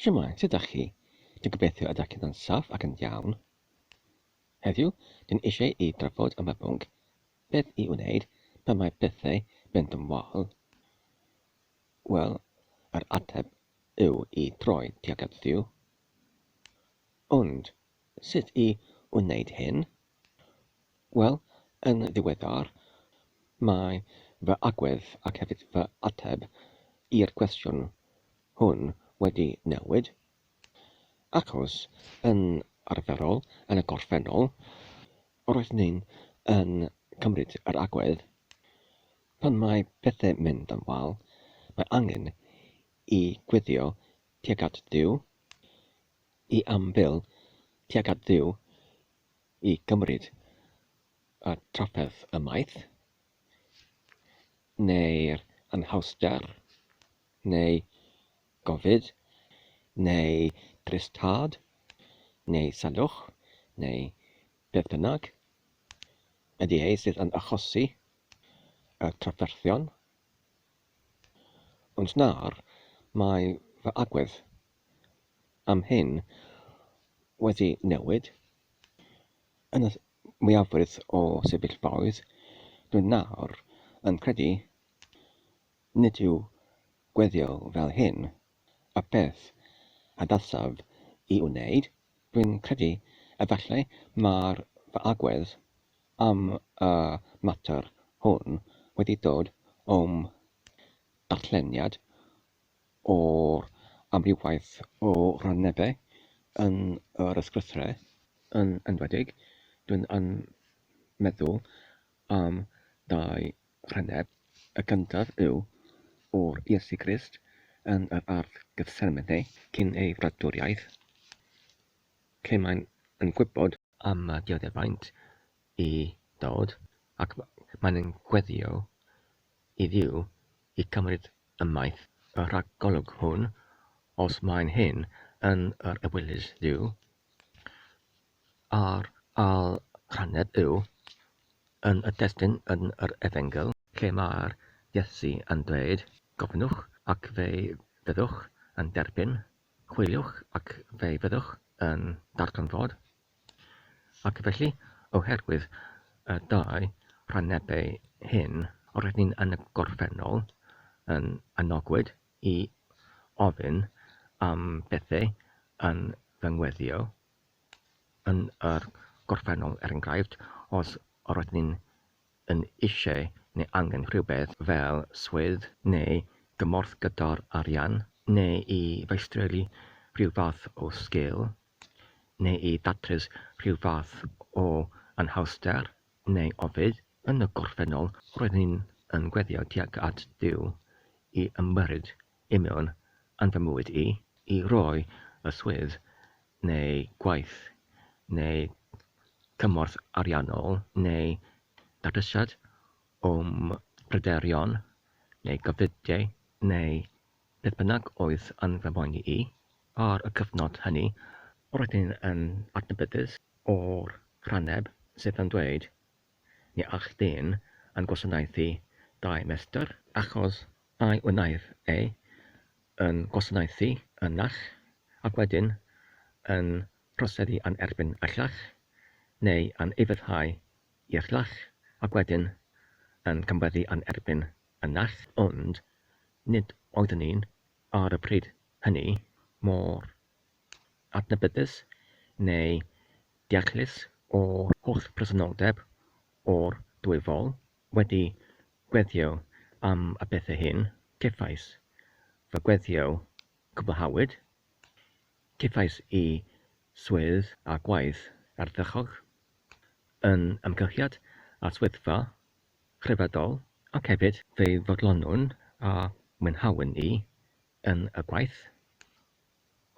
Shwmae, sut ydach chi? Dwi'n gobeithio ydach chi'n dda'n saff ac yn iawn. Heddiw, dwi'n eisiau i drafod am y pwnc, beth i wneud pan mae pethau mynd yn wael. Wel, yr ateb yw i droi tuag at Dduw. Ond, Sut i wneud hyn? Wel, yn ddiweddar, mae fy agwedd ac hefyd fy ateb i'r cwestiwn hwn wedi newid, achos yn arferol, yn y gorffennol, roeddwn i'n yn cymryd yr agwedd, pan mae pethau'n mynd yn wael, mae angen i gweddïo tuag at Dduw, i ambil tuag at Dduw i gymryd y trafferth ymaith, neu'r anhawster, neu gofid, neu drist tad, neu salwch, neu beth bynnag ydy e sydd yn achosi y trafferthion, ond nawr mae fy agwedd am hyn wedi newid yn y mwyafrif o sefyllfaoedd, dw nawr yn credu nid yw gweddïo fel hyn y peth adasaf i wneud, dwi'n credu efallai mai'r fy agwedd am y mater hwn wedi dod o'm darlleniad o'r amrywiaeth o rannebau yn yr ysgrythurau yn enwedig, dw i'n meddwl am dau rhanneb, y gyntaf yw o'r Iesu Grist yn yr ardd Gethsemane cyn ei fradwriaeth, lle mae'n yn gwybod, am y dioddefaint i ddod, ac mae'n yn gweddïo i Dduw i gymryd ymaith y rhagolwg hwn, os mae'n hyn yn yr ewyllys Dduw, a'r ailrhaned yw yn y testyn yn yr Efengyl, lle mae'r Iesu yn dweud, Gofynnwch ac fe fyddwch yn derbyn, chwiliwch ac fe fyddwch yn darganfod, Ac felly, oherwydd y dau rannebau hyn, rydyn ni yn y gorffennol yn anogwyd i ofyn am bethau yn fy ngweddïo yn yr gorffennol, er enghraifft, os rydyn ni yn eisiau neu angen rhywbeth fel swydd neu gymorth gyda'r arian, neu i feistroli rhyw fath o sgil, neu i ddatrys rhyw fath o anhawster neu ofid, yn y gorffennol roedd hyn yn gweddïo tuag at Dduw i ymyrryd i mewn yn fy mywyd i, i roi y swydd neu gwaith neu gymorth ariannol neu datrysiad o'm pryderon neu gofidiau neu Beth bynnag oedd yn fy mhoeni i ar y cyfnod hynny, roedd hyn yn adnabyddus o'r rhanneb sydd yn dweud, Ni all dyn yn gwasanaethu dau mestr, achos ai wnaiff e yn gwasanaethu un naill, ac wedyn yn troseddu yn erbyn y llall, neu yn ufuddhau i'r llall, ac wedyn yn camweddu yn erbyn yn nerth ond nid oeddwn ni'n, ar y pryd hynny, mor adnabyddus neu deallus o'r holl bresenoldeb o'r dwy fol. Wedi gweddïo am y pethau hyn, cefais fy gweddïo cwblhawyd, cefais y swydd a gwaith ardderchog yn ymgysylltiad â'r swyddfa Rhyfeddol, ac hefyd fe fodlonwn a mwynhawn i yn y gwaith,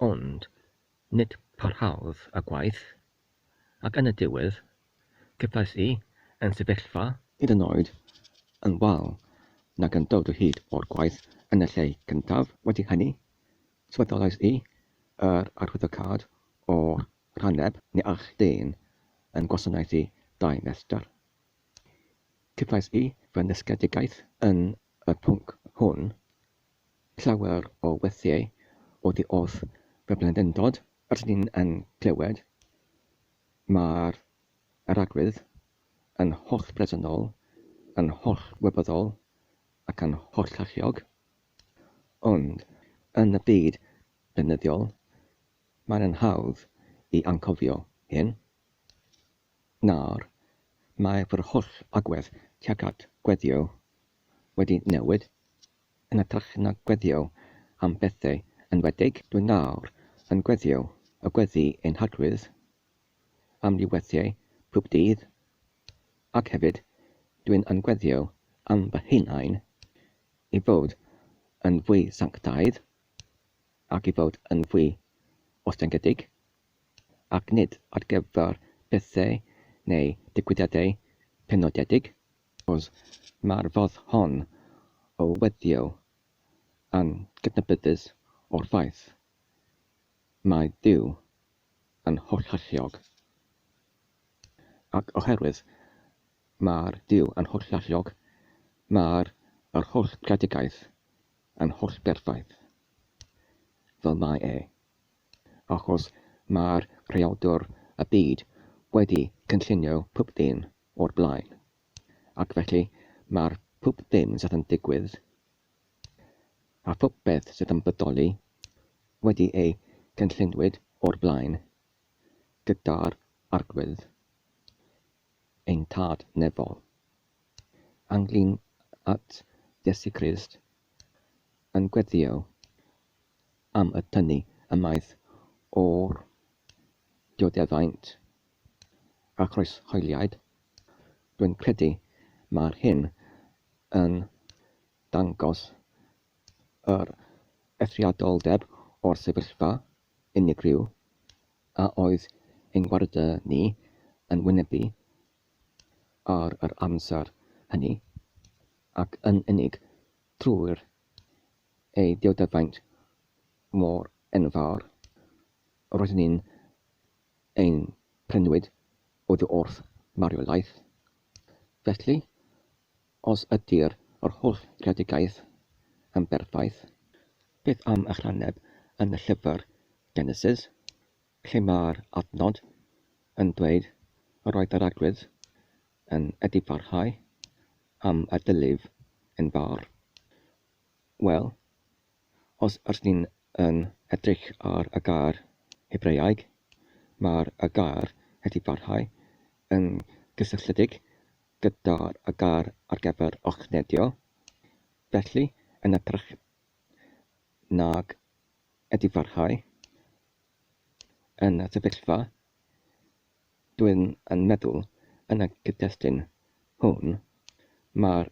ond nid parhaodd y gwaith, ac yn y diwedd cefais i yn sefyllfa, hyd yn oed yn wael nag yn dod o hyd o'r gwaith yn y lle cyntaf, wedi hynny, swyddolais i yr arwyddocâd o'r rhaneb, ni all dyn yn gwasanaethu dau festr. Cefais i fy nysgedigaeth yn y pwnc hwn, llawer o weithiau oddi wrth fy mhlendindod, rydyn ni yn clywed, mae'r arglwydd yn hollbresennol, yn hollwybyddol ac yn hollalluog, ond yn y byd beunyddiol, mae'n hawdd i anghofio hyn. Nawr, mae fy holl agwedd tuag at gweddïo wedi newid, yn hytrach na gweddïo am bethau enwedig, dwi nawr yn gweddïo y gweddi ein hagwedd am ni weithiau pob dydd, ac hefyd, dwi'n yn gweddïo am fy hunain, i fod yn fwy sanctaidd, ac i fod yn fwy ostyngedig, ac nid ar gyfer pethau neu ddigwyddiadau penodedig. Os mae'r ffordd hon o weddïo yn gydnabyddus o'r ffaith mai Duw yn hollalluog, ac oherwydd mai'r Duw yn hollalluog, mae'r yr holl greadigaeth yn hollberffaith, fel mae e, achos mae'r creadur y byd wedi cynllunio pob dim o'r blaen, ac felly mae'r pob dim sydd yn digwydd, a phopeth sydd yn bodoli, wedi eu cynllunwyd o'r blaen, gyda'r Arglwydd, ein Tad nefol, ynglŷn at Iesu Grist, yn gweddïo am y tynnu ymaith o'r dioddefaint a chroeshoeliaid, rwy'n credu mae'r hyn yn dangos yr eithriadoldeb o'r sefyllfa unigryw a oedd ein gwarde ni yn wynebu ar yr amser hynny, ac yn unig trwy'r ei diodyfaint mor enfawr, roedden ni'n ein prynwyd oddi wrth marwolaeth. Felly, os ydy'r yr holl greadigaeth yn berffaith, beth am ychwaneb yn y llyfr Genesis, lle mae'r adnod yn dweud yr oedd yr arglwydd yn edifarhau am y dyliw yn fawr? Wel, os r'yn yn edrych ar y gair Hebreaeg, mae'r gair wedi parhau yn gysylltiedig gyda'r gair ar gyfer llochnedio, felly yn hytrach nag wedi parhau yn y sefyllfa, dw'yn yn meddwl yn y cyd-destun hwn, mae'r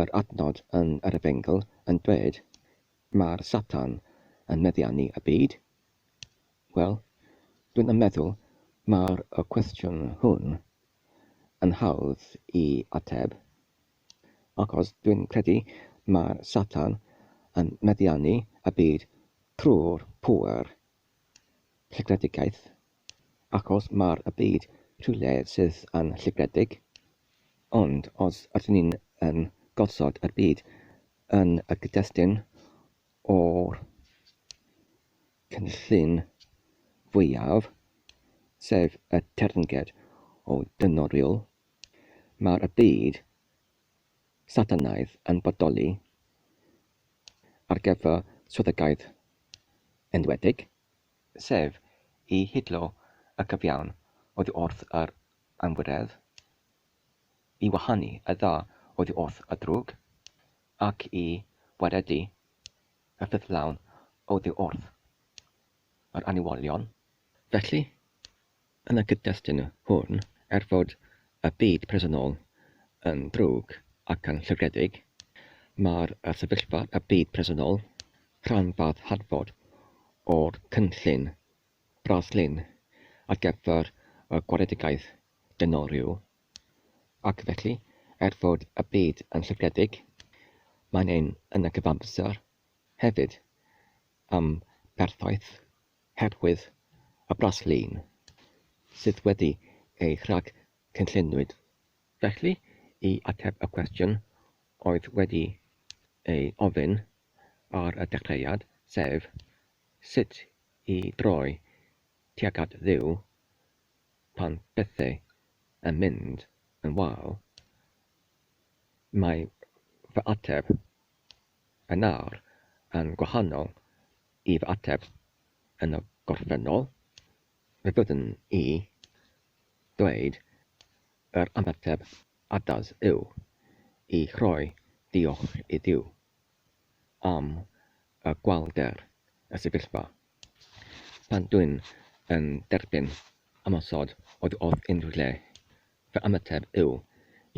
Yr adnod yn yr Efengyl yn dweud, Mae'r Satan yn meddiannu y byd. Wel, dwin yn meddwl mae'r y cwestiwn hwn yn hawdd i ateb, achos dwin credu mae'r Satan yn meddiannu y byd trwy'r pŵer segredigaeth Ac os mae'r byd rhywle sydd yn lligredig, ond os ydyn ni yn gosod y byd yn y gyd-destun o'r cynllun fwyaf, sef y teyrnged o dynoriwl, mae'r byd Satanaidd yn bodoli ar gyfer swyddogaeth enwedig. sef i hidlo y cyfiawn oddi wrth yr anwiredd, i wahanu y dda oddi wrth y drwg, ac i waredu y ffyddlawn oddi wrth yr aniwolion. Felly, Yn y cyd-destun hwn, er fod y byd presennol yn ddrwg ac yn llygredig, mae'r sefyllfa y byd presennol, rhan fath hadfod o'r cynllun braslun ar gyfer y gwaredigaeth dynol rhyw, ac felly, er fod y byd yn llygredig, mae'n un yn y cyfamser hefyd, am berffaith Herwydd y braslun sydd wedi ei rhag cynlluniwyd felly i ateb y cwestiwn oedd wedi ei ofyn ar y dechreuad, sef, sut i droi tuag at Dduw pan bethau yn mynd yn wael, mae fy ateb Yn awr, yn gwahanol i fy ateb yn y gorffennol, fe fyddwn i ddweud yr ymateb addas yw i rhoi diolch i Dduw am y gwallder, y sefyllfa. Pan dwi'n yn derbyn ymosod oddi wrth unrhyw le, Fy ymateb yw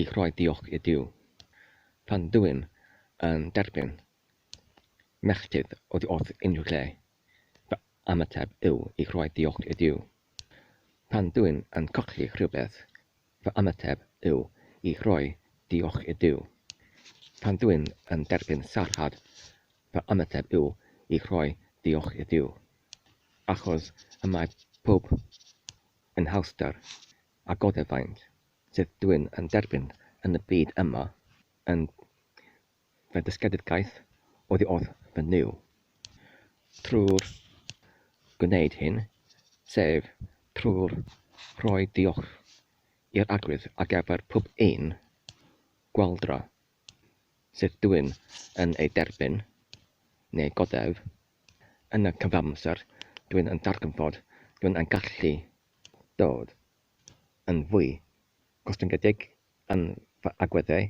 i rhoi diolch i Duw pan dw'm yn derbyn melltith oddi wrth unrhyw lle. Fy ymateb yw i rhoi diolch i Duw pan dw'm yn colli rhywbeth. Fy ymateb yw i rhoi diolch i Duw pan dw'm yn derbyn sarhad. Fy ymateb yw i rhoi diolch i Duw achos y mae pawb yn hawster a goddef faint sydd dwyn yn derbyn yn y byd yma yn fy ddysgedigaeth oddi wrth fy Nuw. Trwy'r gwneud hyn, sef trwy'r rhoi diolch i'r Arglwydd ar gyfer pob un gwaldra sydd dwyn yn ei derbyn, neu goddef, yn y cyfamser, dwyn yn darganfod, dwyn yn gallu dod yn fwy gostyngedig yn fy agweddau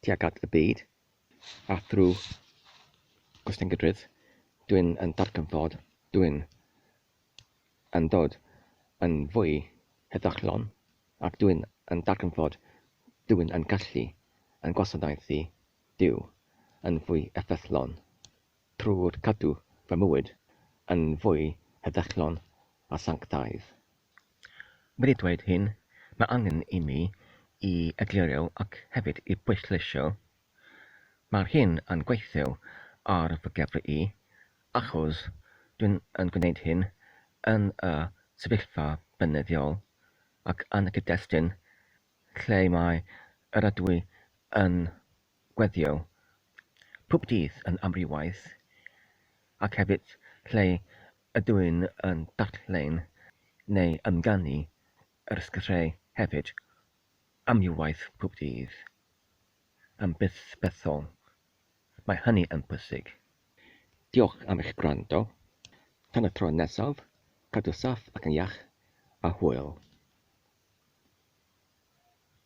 tuag at y byd, a thrwy gostyngedrwydd dwi'n yn darganfod dwi'n yn dod yn fwy heddychlon ac dwi'n yn darganfod dwi'n yn gallu yn gwasanaethu Duw yn fwy effeithlon. Trwy gadw fy mywyd yn fwy heddychlon a sanctaidd. Wedi dweud hyn, mae angen i mi i egluro ac hefyd i bwysleisio, mae'r hyn yn gweithio ar fy gefry i, achos dwi'n yn gwneud hyn yn y sefyllfa beunyddiol ac yn y cyd-destun lle mae yr ydw i yn gweithio pob dydd yn amrywiaeth ac hefyd lle ydw i'n yn darllen neu ymganu yr sgyrsiau hefyd amrywiaeth pob dydd yn bysbethol mae hynny yn bwysig. Diolch am eich gwrando. Tan y tro nesaf, cadw saff ac yn iach a hwyl.